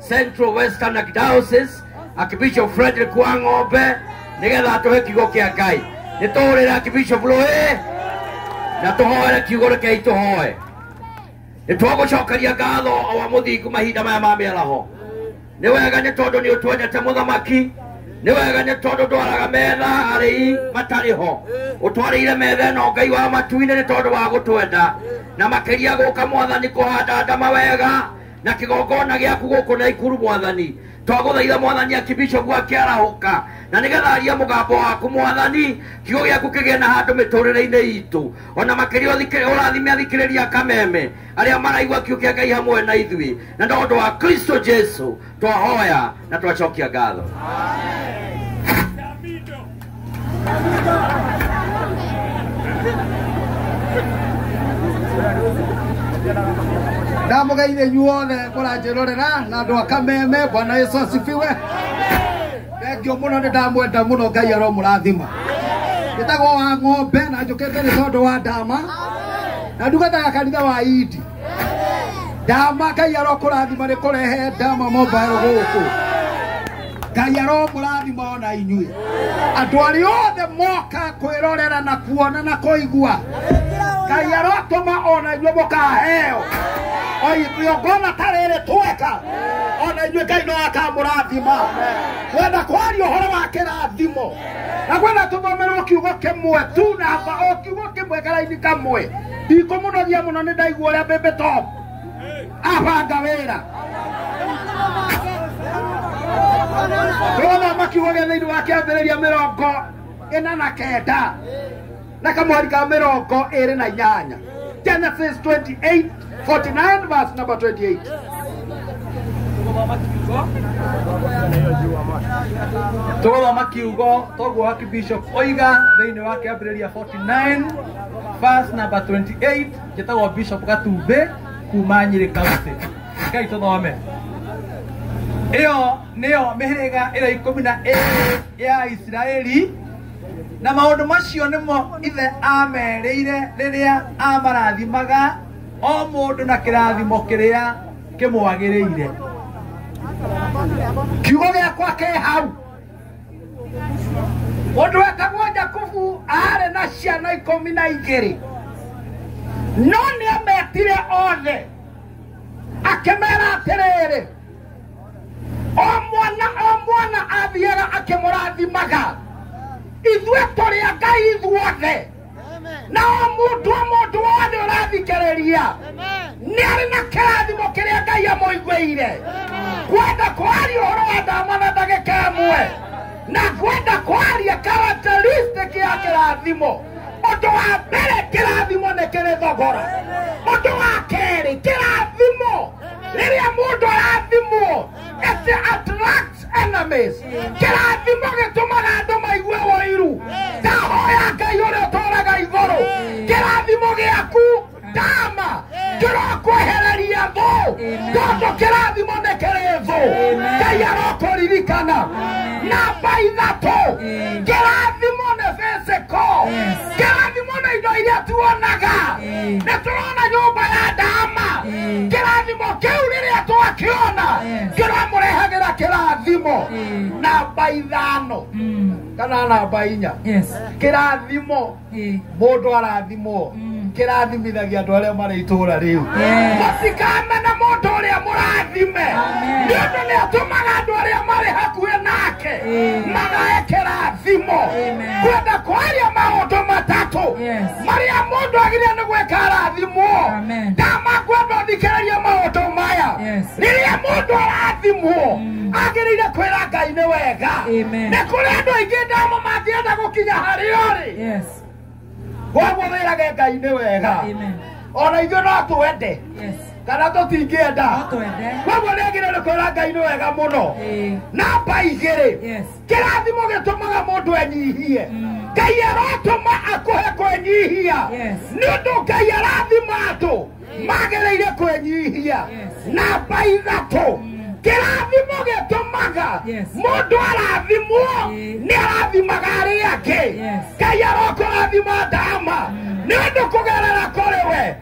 Central Western Archdiocese Archbishop Frederick wa Ng'ombe nigetha tuhe kiugo kia Ngai ni tuhurire Archbishop Rũĩ na tuhoere kiugo rekei tuhoe ni twagucokeria ngatho o wa muthingu mahinda maya ma miaraho ni wega ni tondu ni utwendete muthamaki ni wega ni tondu ndwaraga metha arĩi matarĩ ho ũtwarĩire metha ĩno ngai wa matu-inĩ nĩ tondũ wa gũtwenda na makĩria gũka mwathani kũhanda ndama wega na kĩgongona gĩaku gũkũ na ikuru mwathani twagũthaitha mwathani akibishopu akĩarahũka na nĩgetha aria mũgambo waku mwathani kiugo gĩaku kĩgĩe na handũ mĩtũrĩre-inĩ itũ ona makĩria ũthikĩ- ũrathime athikĩrĩria kameme arĩa maraigua kiugo kĩa ngai hamwe na ithuĩ na nĩ ũndũ wa kristo jesu twahoya na twacokia ngatho ndamugeithe inyuothe mũranjĩrorera na andũ a kameme bwana yesu asifiwe thengio mũno nĩ ndamwenda mũno ngai aromũrathima njĩtagwo wa ng'ombe na njũkĩte nĩ tondũ wa ndama na ndugataga kanitha wa idi ndama ngai arokũrathima nĩ kũrehe ndama mobile gũkũ ngai aromũrathima ona inyuĩ andũ arĩa othe moka kwĩrorera na kuona na kũigua ngai arotũma ona inyuĩ mũkaheo oigongona ta rĩrĩ tweka ona inyuĩ ngai no akamũrathima wenda kwaria ũhoro wa kĩrathimo na kwenda tũthomerwo kiugo kĩmwe tu namba o kiugo kĩmwe karaini kamwe ikũmũnogia mũno nĩ ndaigua ũrĩa mbembe top abanga wĩra tũrona makiugo gĩa thĩinĩ wa kĩambĩrĩria mĩrongo ĩna na kenda na kamweri ka mĩrongo ĩrĩ na inyanya genesis 28 49 verse number 28 tũgũthoma kiugo toguo wa kibishop oiga thĩinĩ wa kĩambĩrĩria 49 verse number 28 njĩtagwo bishop gatumbĩ kuma nyĩrĩ kaunti ngai tũthome ĩyo nĩyo mĩhĩrĩga ĩrĩa ikũmi na ĩrĩ ya isiraeli na maũndũ macio nĩmo ithe amerĩire rĩrĩa amarathimaga o mũndũ na kĩrathimo kĩrĩa kĩmwagĩrĩire kiugo gĩakwa kĩ hau mũndũ wetagwo jakubu aarĩ na ciana ikũmi na igĩrĩ no nĩ ametire othe akĩmera atĩrĩrĩ o mwana o mwana athiaga akĩmũrathimaga ithuĩ tũrĩa ngai ithuothe nao mũndũ o mũndũ wothe ũrathikĩrĩria nĩ arĩ na kĩrathimo kĩrĩa ngai amũiguĩire kwenda kwaria ũhoro wa ndama na ndagĩka ĩmwe na kwenda kwaria characteristic ya kĩrathimo ũndũ wa mbere kĩrathimo nĩ kĩrĩ thogora ũndũ wa kerĩ kĩrathimo rĩrĩa mũndũ arathimwo it attracts enemies kĩrathimo gĩtũmaga andũ maigue ũiru ndahoya ngai ũrĩa ũtũraga igũrũ kĩrathimo gĩaku ndama kĩrokwehereria thũ tondũ kĩrathimo nĩ kĩrĩ thũ ngai arokũririkana namba ithatũ kĩrathimo nĩ physical kĩrathimo na indo iria tuonaga nĩ tũrona nyũmba ya ndama kĩrathimo kĩu rĩrĩa twakĩona kĩramũrehagĩra kĩrathimo namba ithano kana namba inya Yes. kĩrathimo Eh. mũndũ arathimwo kĩrathimithagia andũ arĩa marĩ itũũra rĩu Yes. mũtikamene mũndũ ũrĩa mũrathime Amen. nĩ ũndũ nĩ atũmaga andũ arĩa marĩ hakuhĩ nake Eh. magae kĩrathimo kwenda kwaria maundu matatu Yes. maria mundu agiria ni gwika arathimwo Amen. ndamakwenda thikiriria maundu maya Yes. riria mundu arathimwo agirire kwira ngai ni wega Amen. ni kuri andu aingi ndamo mathienda gukinya hari uri Yes. koguo wirage ngai ni wega Amen. ona ithuĩ no twende Yes. kana tũtingĩenda Twende. koguo nĩagĩrĩire kwĩra ngai nĩ wega mũno Eh. namba igĩrĩ Yes. kĩrathimo gĩtũmaga mũndũ enyihie ngai aratũma akũhe kwĩnyihia Yes. nĩ ũndũ ngai arathima andũ magĩrĩire kwĩnyihia namba ithatũ kĩrathimo gĩtũmaga Yes. mũndũ arathimwo Eh. nĩ arathimaga arĩa angĩ Yes. ngai arokũrathima ndama nĩ ũndũ kũgerera kũrĩ we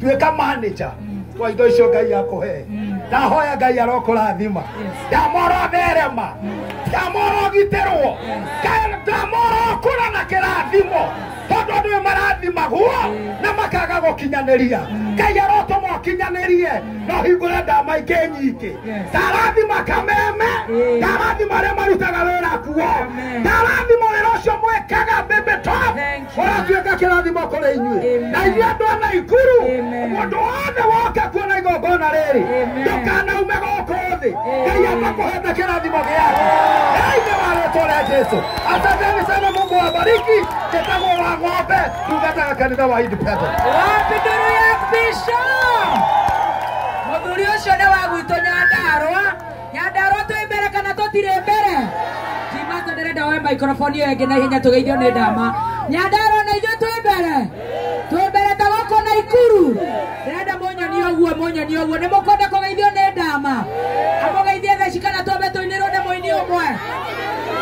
tuĩka manager wa indo icio ngai akũhe ndahoya ngai arokũrathima ndamora therema ndamora ũgitĩrwo Ngai- ndamora ũkũra na kĩrathimo tondũ andũ nĩ marathimagwo na makaga gũkinyanĩria ngai arotũma ũkinyanĩrie na ũhingũre ndama ingĩ nyingĩ ndarathima kameme ndarathima arĩa marutaga wĩra kuo ndarathima wĩra ũcio mwĩkaga bĩbĩto Thank ũratuĩka kĩrathimo kũrĩ inyuĩ na inyuĩ andũ a naikuru mũndũ wothe woke kuona igongona rĩrĩ ndũkanaume gũkũ thĩ ngai atakũhete kĩrathimo gĩake thĩinĩ wa rĩtwa rĩa jesu asanteni sana mungu wabariki njĩtagwo wa ng'ombe tungataga kanitha wa independent Wapi nduru ya Bishop? Mũthuri ũcio nĩ wa gwitũ Nyandarũa nyandarwa twĩ mbere kana tũtirĩ mbere kimato ndĩrenda woe maikrofoni ĩyo ĩngĩ na ihenya tũgeithio nĩ ndama nyandarwa na ithuĩ twĩ mbere twĩ mbere ta gũkũ na ikuru ndĩrenda mũnyonie ũguo mũnyonie ũguo nĩ mũkwenda kũgeithio nĩ ndama amũgeithie theci kana twambe tũinĩrwo nĩ mũini ũmwe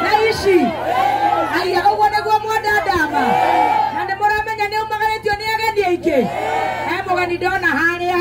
na ici aya ũguo nĩguo mwenda ndama na nĩ mũramenya nĩ umagarĩtio nĩ ageni aingĩ he mũgeni ndona harĩa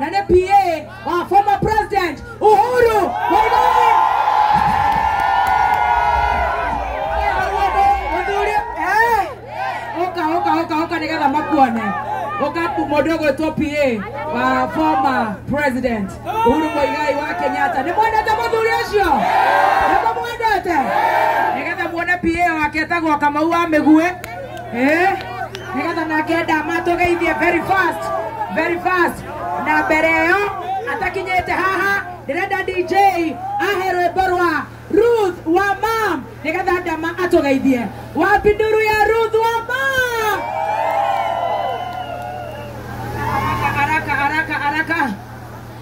na nĩ PA wa former president Uhuru Muigai. Mũthuri, eh, ũka ũka ũka ũka nĩgetha makuone ũka ku- mũndũ ũgwĩtwo PA wa former president Uhuru Muigai wa Kenyatta nĩ mwendete mũthuri ũcio nĩ mũmwendete nĩgetha muone PA wake etagwo Kamau wa Mĩguĩ Eh, nigetha nake ndama tũgeithie very fast very fast na mbere ĩyo atakinyĩte haha ndĩrenda dj ahe rwĩmbo rwa ruth wa mam nigetha ndama atũgeithie wapi nduru ya ruth wa mam haraka haraka haraka haraka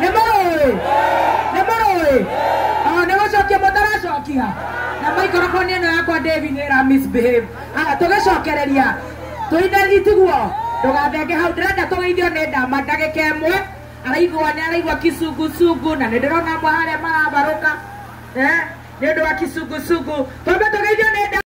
nĩ mũrũĩ nĩ mũrũĩ Ah, nĩ gũcokia mũtaracokia na maikoroboni ĩno yakwa David nĩ ĩra misbehave haya tũgĩcokereria tũine itiguo ndũgathenge hau ndĩrenda tũgeithio nĩ ndama ndagĩka ĩmwe araigua nĩ araigua kisungusungu na nĩ ndĩrona amwe harĩa marabarũka Eh, nĩ ũndũ wa kisungusungu twambe tũgeithio nĩ ndama